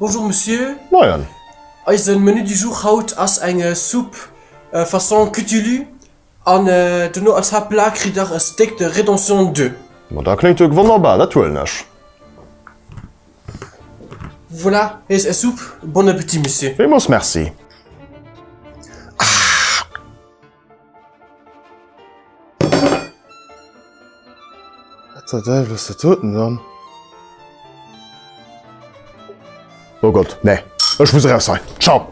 Bonjour Monsieur. Moien. Eisen Menu du jour haut ass eng Soupe façon Cutulu an dono als Haaptplat kritt der e Steak de Rédemption de. Ma da kléngt jo wonnerbar, dat huelen ech. Voilà, hei ass är Soupe. Bon appétit Monsieur. Villmols merci. Ahh. Wat zur Deiwel ass dat doten dann? Oh Gott, nee, ech muss eraus hei. Ciao!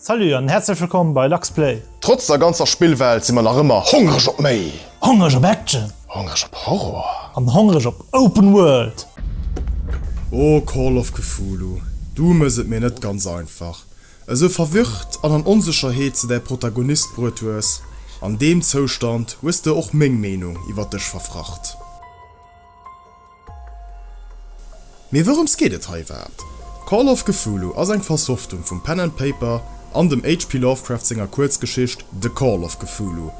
Salut an herzlech wëllkomm bei Lux Play! Trotz der ganzer Spillwelt si mer nach ëmmer hongreg op méi! Hongreg op Action! Hongreg op Horror! An hongreg op Open World! Oh Call of Cthulhu, du mëss et mir net ganz einfach. Esou verwirrt an an Onsécherheet s de däi Protagonist bruet hues, an deem Zoustand hues de och meng Meenung iwwer dech verfracht. Mee wourems geet et hei iwwerhaapt? Call of Cthulhu ass eng Versoftung vum Pen and Paper an dem HP Lovecraft senger Kuerzgeschicht The Call of Cthulhu.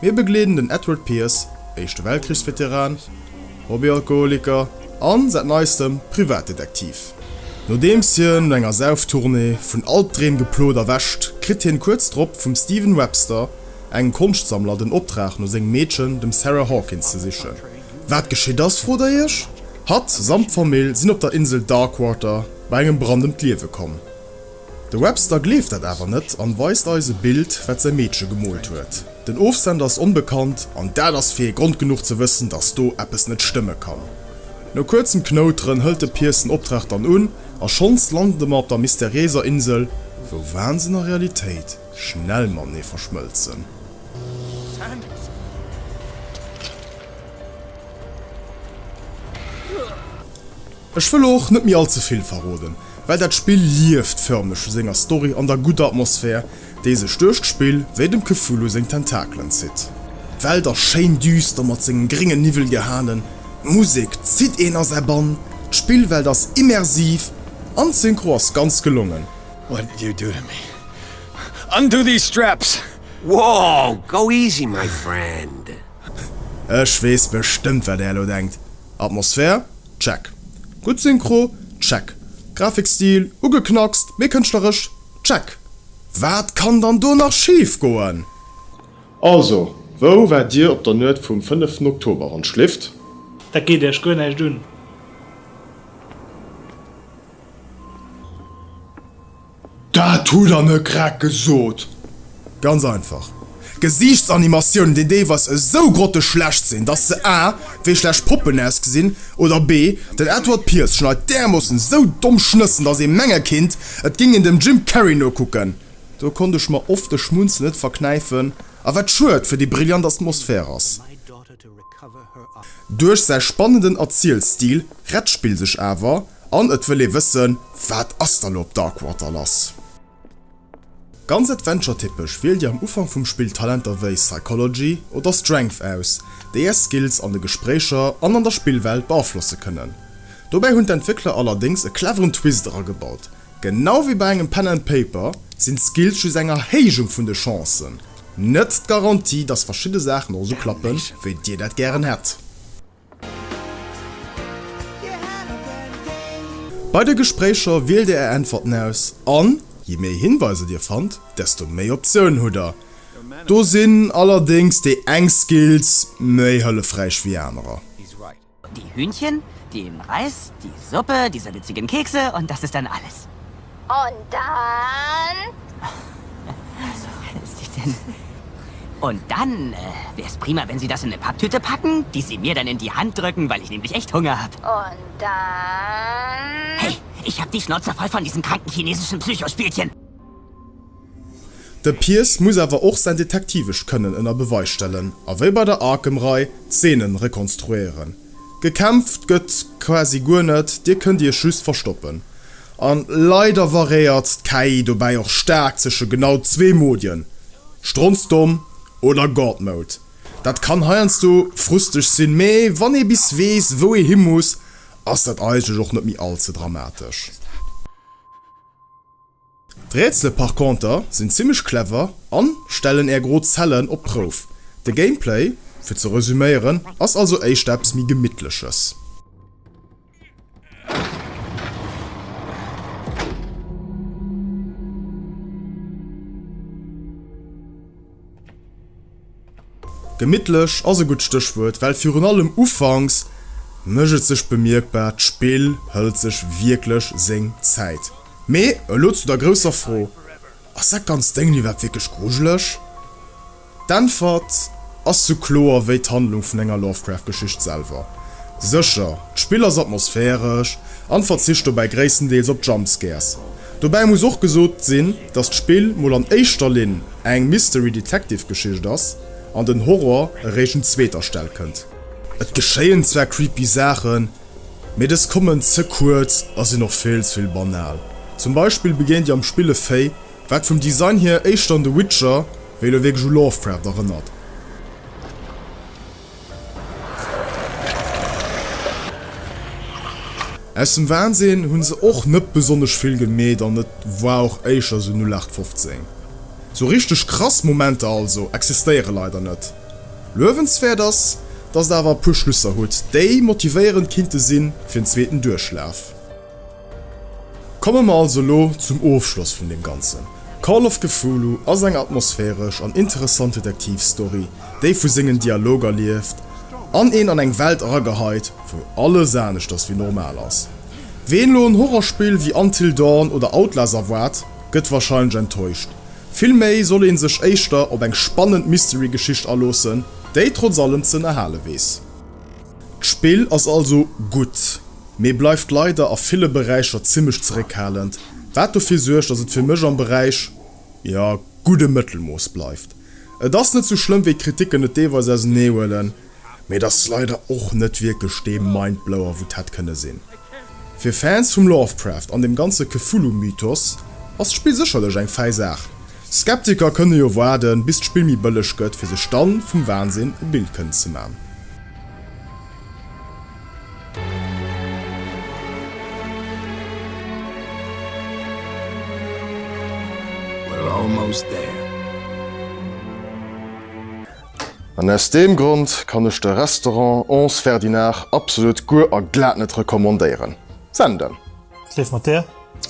Mir begleeden den Edward Pierce, Éischte Weltkriegsveteran, Hobbyalkoholiker an, säit neistem, Privatdetektiv. Nodeems hien no enger Sauftournée vun Albdreem geplot erwächt, kritt hien kuerz drop vum Steven Webster, engem Konschtsammler, den Optrag no sengem Meedchen, dem Sarah Hawkins, ze sichen. Wat geschitt ass, frot der iech? Hatt samt Famill sinn op der Insel Darkwater bei engem Brand ëm d'Liewe komm. De Webster gleeft dat awer net an weist eis e Bild, wat säi Meedche gemoolt huet. Den Ofsender ass onbekannt an dat ass fir ee Grond genuch ze wëssen, dass do eppes net stëmme kann. No kuerzem Knouteren hëlt de Pierce den Optrag dann un a schonns lande mer op der mysteriéiser Insel, wou Wahnsinn a Realitéit schnell matenee verschmëlzen. Sanders. Ech wëll och net méi allze vill verroden, well dat Spill lieft förmlech vu senger Story an der gudder Atmosphär, déi sech duerch d'Spill wéi dem Cthulhu seng Tentakelen zitt. D'Welt ass schéin düster mat sengem gréngen Niwwel gehanen, d'Musek zitt een a säi Bann, d'Spillwelt ass immersiv an d'Synchro ass ganz gelongen. What did you do to me? Undo these straps! Wow, go easy my friend. Ech wees bestëmmt wat är elo denkt. Atmosphär? Check. Gutt Synchro? Check. Grafikstil? Ugeknackst, mee kënschtleresch? Check. Wat kann dann do nach schif goen? Also, wou war dir op der Nuet vum fënneften Oktober, wann d'Schléft? Dat geet iech guer näischt un. Dat hutt der net grad gesot. Ganz einfach. Gesiichtsanimatiounen, déi deelweis esou grotteschlecht sinn, dass se a, wéi schlecht Poppen ausgesinn, oder b, den Edward Pierce schneit därmoossen esou domm Schnëssen, dass ee menge kinnt, et géing een dem Jim Carrey nokucken. Do konnt ech mer oft de Schmunzel net verknäifen, a wat schued fir déi brillant Atmosphär ass. Duerch säi spannenden Erzielstil rett d'Spill sech awer, an et wëll ee wëssen, Wat ass da lo op Darkwater lass? Ganz Adventure-typesch wielt Dir am Ufank vum Spill Talenter wéi Psychology oder Strength aus, déi Är Skills an de Gespréicher an an der Spillwelt beaflosse kënnen. Dobäi hunn d'Entwéckler allerdéngs e cleveren Twist eragebaut, Genau wéi bei engem Pen and Paper sinn d'Skills just eng Erhéijung vun de Chancen, net d'Garantie, dass verschidde Saachen och esou klappe wéi dir dat gären hätt. Bei de Gespréicher wielt dir är Äntwerten aus an je méi Hinweiser dir fannt, desto méi Optiounen hutt der. Do sinn allerdéngs déi eng Skills méi hëllefräich wéi anerer. Die Hühnchen, den Reis, die Suppe, die salzigen Kekse und das ist dann alles. Und dann? Also, Sie denn. Und dann wär es prima, wenn Sie das in ne Papptüte packen, die Sie mir dann in die Hand drücken, weil ich nämlich echt Hunger hab. Und dann? Hey, ich hab die Schnauze voll von diesen kranken chinesischen Psycho-Spielchen! De Pierce muss awer och säin detektivescht Kënnen ënner Beweis stellen a wéi bei der Arkham-Rei d'Zeenen rekonstruéieren. Gekämpft gëtt quasi guer net, dir kënnt iech just verstoppen. An leider variéiert d'KI dobäi och staark zeschen genau zwee Modien, Stronzdomm oder God Mode. Dat kann heiansdo frusteg sinn, mee wann ee bis weess wou ee hi muss, ass dat eigentlech och net méi all ze dramatesch. D'Rätsele par conter sinn zimmlech clever an stellen är gro Zellen op d'Prouf. De Gameplay, fir ze resüméieren, ass also éischter eppes méi gemittleches. Gemittlech ass e gutt Stéchwuert, well virun allem ufanks mécht et sech bemierkbar, d'Spill hëlt sech wierklech seng Zäit. Mee elo zu der grousser Fro, Ass dat ganzt Déngen iwwerhaapt wierklech grujeleg? D'Äntwert ass sou kloer wéi d'Handlung vun enger Lovecraft-Geschicht selwer. Sécher, d'Spill ass atmosphäresch an verzicht dobäi gréisstendeels op Jumpscares. Dobäi muss och gesot sinn, dass d'Spill mol an éischter Linn eng Mystery-Detective-Geschicht ass an den Horror eréischt un zweeter Stell kënnt. Et geschéien zwar creepy Saachen, mee dës kommen ze kuerz a sinn och vill ze vill banal. Zum Beispill begéint dir am Spill e Véi, wat vum Design hier éischter un The Witcher wéi elo wierklech u Lovecraft erënnert. Aus dem Wahnsinn hun se och net besonnesch vill gemeet an et war och éischer sou 0815. Sou richteg krass Momenter also existéiere leider net. Luewenswäert ass, dass et awer e puer Schlusser huet, déi motivéierend kinnte sin fir en zweeten Duerchlaf. Komme mer also elo zum Ofschloss vun deem Ganzen. Call of Cthulhu ass eng atmosphäresch an interessant Detektivstory, déi vu sengen Dialoger lieft an een an eng Welt erageheit, wou alles anescht ass wéi normal ass. Ween elo en Horrorspill wéi Until Dawn oder Outlast erwaart, gëtt warscheinlech enttäuscht. Villméi soll ee sech éischter op eng spannend Mystery-Geschicht aloossen, déi trotz allem ze ënnerhale weess. D'Spill ass also gutt, mee bleift leider a ville Beräicher zimmlech zeréckhalend, wat dofir suergt, dass et fir mech am Beräich, jo, gudde Mëttelmooss bleift. Et ass net sou schlëmm, wéi d'Kriticken et deelweis auserneehuelen, mee et ass leider och net wierklech dee Mindblower, wou 't hätt kënne sinn. Fir Fans vum Lovecraft an dem ganze Cthulhu-Mythos ass d'Spill sécherlech eng fäi Saach. Skeptiker kënne jo waarden, bis d'Spill méi bëlleg gëtt, fir sech dann vum Wansinn e Bild kënnen ze man. An aus deem Grond kann ech de Restaurant Ons Ferdinard absolut guer a glat net recommandéieren. Senden. Schleef mat der.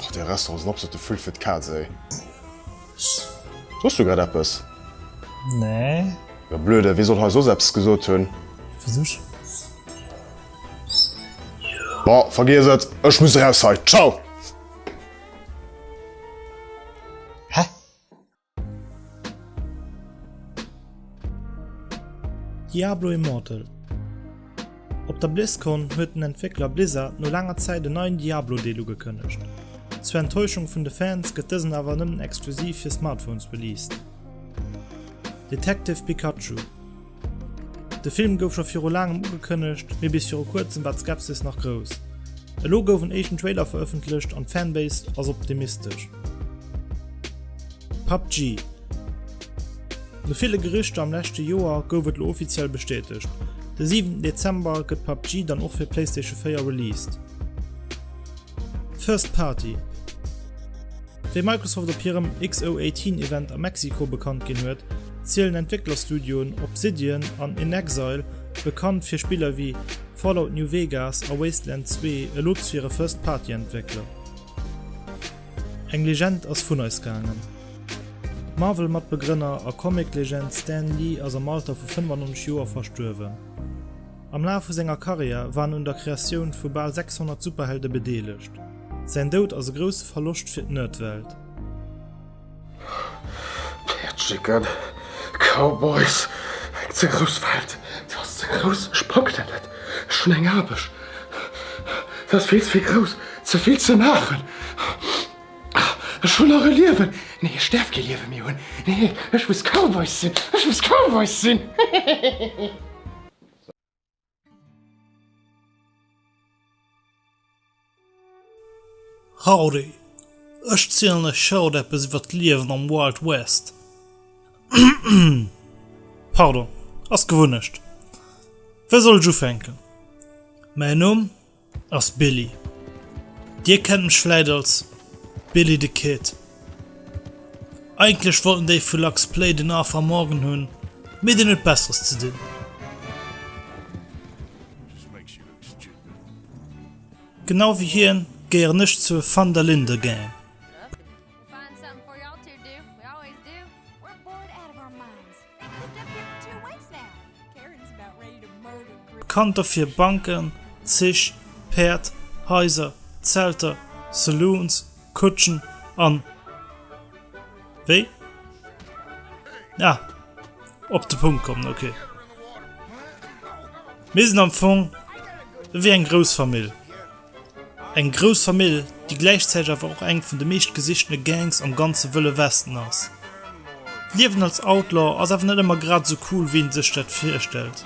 Och dee Restaurant ass en absolute Vull fir d'Kaz, ey. S, Soss du grad eppes? Nee. Jo blöde, wee soll hei soss eppes gesot hunn? Versuch. Bon, vergiess et, ech muss eraus hei. Ciao! Hä? Diablo Immortal. Op der BlizzCon huet den Entwéckler Blizzard no laanger Zäit en neien Diablo-Deel ugekënnegt. Zur Enttäuschung vun de Fans gëtt dësen awer nëmmen exklusiv fir Smartphones released. Detective Pikachu De Film gouf scho viru laangem ugekënnegt, mee bis viru kuerzem war d'Skepsis nach grouss. Elo gouf en éischten Trailer verëffentlecht an d'Fanbase ass optimistesch. PUBG. No ville Gerüchter am leschte Joer gouf et lo offiziell bestätegt, De 7 Dezember gëtt PUBG dann och fir Playstation 4 released. First Party Wéi Microsoft op hirem X018 Event a Mexiko bekannt ginn huet, zielen Entwécklerstudioen Obsidian an inXile, bekannt fir Spiller wéi Fallout New Vegas a Wasteland 2, elo zu hire First Party Entwéckler. Eng Legend ass vun eis gaangen. D'Marvel-Matbegrënner a Comic-Legend Stan Lee ass am Alter vu 95 Joer verstuerwen. Am Laf vu senger Karriär war en un der Kreatioun vu bal 600 Superhelde bedeelegt. Säin Doud ass e grousse Verloscht fir d'Nerdwelt. D'Häertstrécken, Cowboys, eng ze grouss Welt, se ass ze grouss, ech pack dat net, ech hunn eng Aarbecht, se ass vill ze vill grouss, ze vill ze maachen, ech hunn nach e Liewen, nee ech däerf kee Liewe méi hunn, nee ech muss Cowboys sinn, ech muss Cowboys sinn. Howdy, ech zielen lech haut eppes iwwert d'Liewen am Wild West. Pardon, ass Gewunnecht. Wéi soll ech ufänken? Mäin Numm? ass Billy. Dir kennt mech vläit als Billy the Kid. Eigentlech wollten déi vu Lux Play den A Van Morgen hunn, mee deen huet Besseres ze dinn. Genau wéi hien gehéieren ech zur Van der Linde Gang. Kann dofir Banken, Zich, Päerd, Haiser, Zelter, Saloons, Kutschen an. Wéi? Ah, op de Punkt kommen, ok. Mir sinn am Fong wéi eng Groussfamill. Eng grouss Famill, déi gläichzäiteg awer och eng vun de meeschtgesichtene Gangs am ganze Wëlle Westen ass. D'Liewen als Outlaw ass awer net ëmmer grad esou cool, wéi ee sech dat virstellt.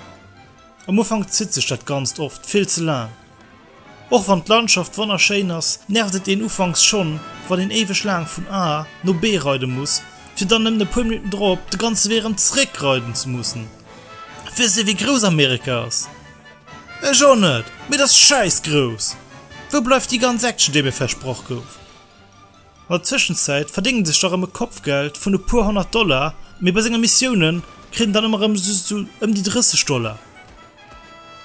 Am Ufank zitt sech dat Ganzt oft vill ze laang. Och wann d'Landschaft wonnerschéin ass, nervt et een ufanks schonn, wann een éiweg laang vun A no B reide muss, fir dann nëmmen e puer Minutten drop de ganze Wee erëm zeréckreiden ze mussen. Wësst Dir, wéi grouss Amerika ass? Ech och net, mee et ass schäiss grouss! Wou bleift déi ganz Action déi mir versproch gouf? An der Tëschenzäit verdéngen sech da rëm e Kopfgeld vun e puer honnert Dollar, mee bei senger Missiounen kritt en dann ëmmer rëm sou ëm déi 30 Dollar.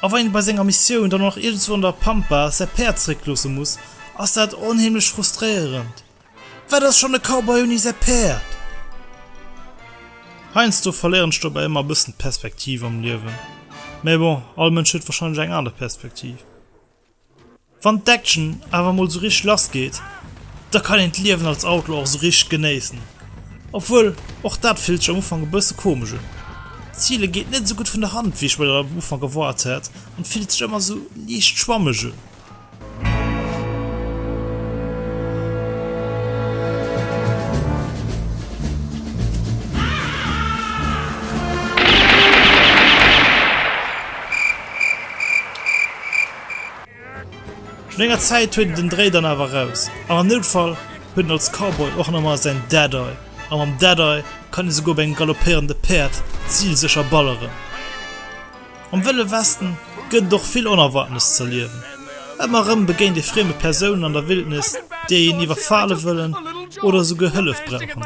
A wann een bei senger Missioun dann och nach iergendswou an der Pampa säi Päerd zeréckloosse muss, ass dat onheemlech frustréierend. Wat ass schonn e Cowboy ouni säi Päerd? Heiansdo verléieren ech dobäi ëmmer e bëssen d'Perspektiv am Liewen. Mä bon, all Mënsch huet warscheinlech eng aner Perspektiv. Wann d'Action awer emol esou richteg lass geet, da kann een d'Liewen als Outlaw och esou richteg genéissen. Obwuel, och dat fillt sech am Ufank e bësse komesch un. D'Zile geet net esou gutt vun der Hand, wéi ech mer dat am Ufank erwaart hat an fillt sech ëmmer esou liicht schwammeg un. No enger Zäit huet en den Dréi dann awer raus, an am Noutfall huet en als Cowboy och nach mol säin Deadeye, a mam Deadeye kann ee souguer op engem galoppéierende Päerd zilsécher balleren. Am Wëlle Westen gëtt et och vill Onerwaartenes z'erliewen. Ëmmer erëm begéint ee frieme Persounen an der Wildnis, déi een iwwerfale wëllen oder souguer Hëllef brauchen.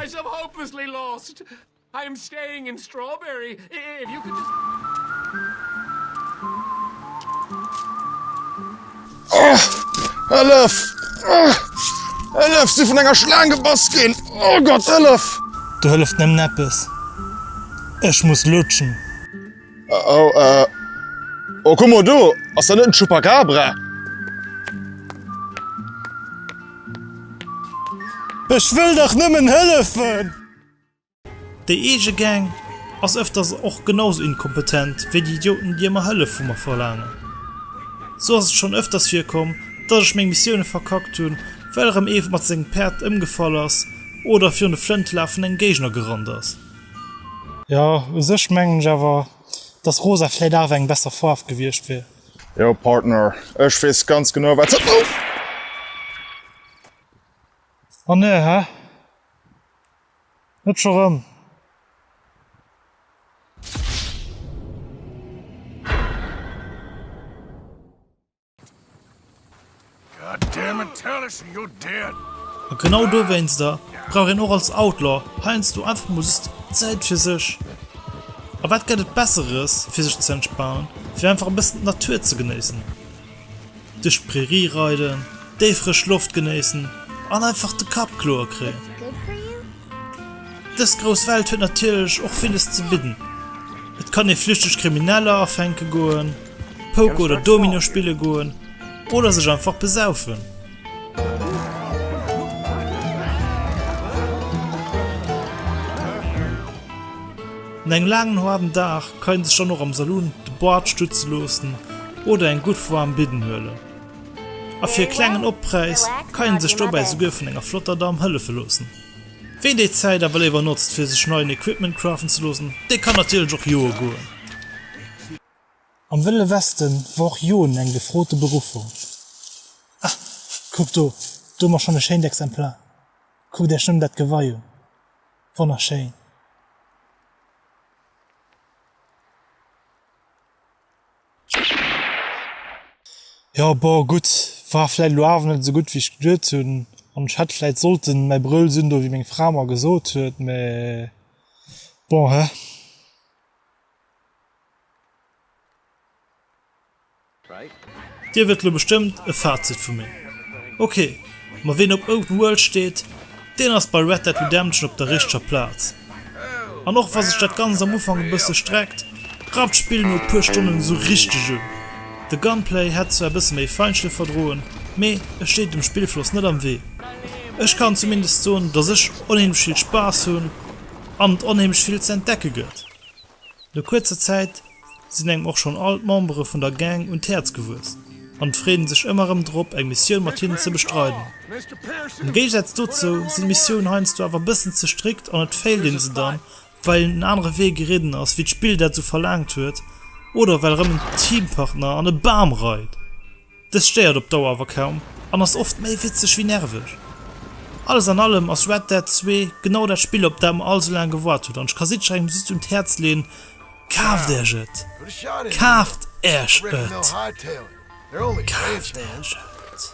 Oh, äh, oh, guck mal do, ass dat net den Chupacabra? Ech wëll dach nëmmen hëllefen! Déi eege Gang ass ëfters och genau sou inkompetent wéi déi Idioten déi ëmmer Hëllef vu mer verlaangen. Sou ass et schonn ëfters virkomm dass ech meng Missioune verkackt hunn, well erëm ee mat sengem Päerd ëmgefall ass oder virun de Flëntelag vun engem Géigner gerannt ass. Jo u sech mengen ech awer dass rosa vläit awer eng besser Faarw gewierscht wier. Jo Partner, ech wees ganz genau wat se. Ouff! Oh ne, hä? Net scho rëm? A genau dowéinster brauch een och als Outlaw heiansdo einfach mol just Zäit fir sech. A wat gett et besseres fir sech ze entspanen wéi einfach e bëssen d'Natur ze genéissen. Duerch d'Prairie reiden, déi frësch Loft genéissen an einfach de Kapp kloer kréien. Dës grouss Welt huet natierlech och villes ze bidden. Et kann ee flüchteg Krimineller afänke goen. Poker oder Domino spille goen oder sech einfach besaufen. No engem laangen haarden Dag kann een sech dann och am Saloon de Bart stutze loossen oder eng gutt waarm Bidden huelen. A fir e klengen Oppräis kann een sech dobäi souguer vun enger flotter Damm hëllefe loossen. Ween déi Zäit awer léiwer notzt fir sech neien Equipment crafen ze loossen, dee kann natierlech och joe goen. Am Wëlle Westen war och Joen eng gefrote Beruffung. Ah, kuckt do, do hu mer schonn e schéint Exemplar. Kuckt Iech nëmmen dat Gewei un. Wonnerschéin! Jo, bon, gutt, war vläit elo awer net esou gutt, wéi ech geduet hunn. An ech hätt vläit sollten mäi Brëll sinn, do wéi meng Fra mer gesot huet, mä bon, he. Dir wëllt lo bestëmmt e Fazit vu mir. Ok, ma ween op Open World steet, deen ass bei Red Dead Redemption op der richteger Plaz. An och wa sech dat Ganzt am Ufank e bësse streckt, rappt d'Spill no e puer Stonnen esou richteg un. De Gunplay hätt zwar e bësse méi Feinschliff verdroen, mee e steet dem Spillfloss net am Wee. Ech kann zumindest soen, dass ech onheemlech vill Spaass hunn an et onheemlech vill ze entdecke gëtt. No kuerzer Zäit sinn engem och schonn all d'Membere vun der Gang un d'Häerz gewuess an et freet een sech ëmmer erëm drop eng Missioun mat hinnen ze bestreiden. Am Géigesaz dozou sinn d'Missiounen heiansdo awer e bëssen ze strikt an et féilt een se dann, well een en anere Wee geridden ass wéi d'Spill dat esou verlaangt huet oder well erëm en Teampartner an e Bam reit. Dëst stéiert op Dauer awer kaum an ass oft méi witzeg wéi nerveg. Alles an allem ass Red Dead 2 genau dat Spill op dat mer all sou laang gewaart hunn an ech ka jiddwerengem just un d'Häerz leeën, Kaaft Äech et! Kaaft Äech et! Kaaft Äech et!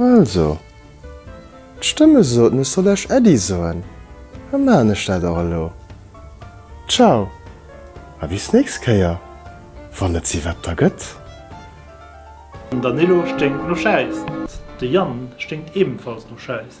Also, d'Stëmme soten ech soll lech Äddi soen, da maachen ech dat och elo. Ciao a bis nächst Kéier, wann et si Wetter gëtt. Den Danilo sténkt no Schäiss. De Yann sténkt ebenfalls no Schäiss.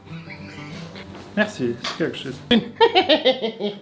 Merci, ass gär geschitt.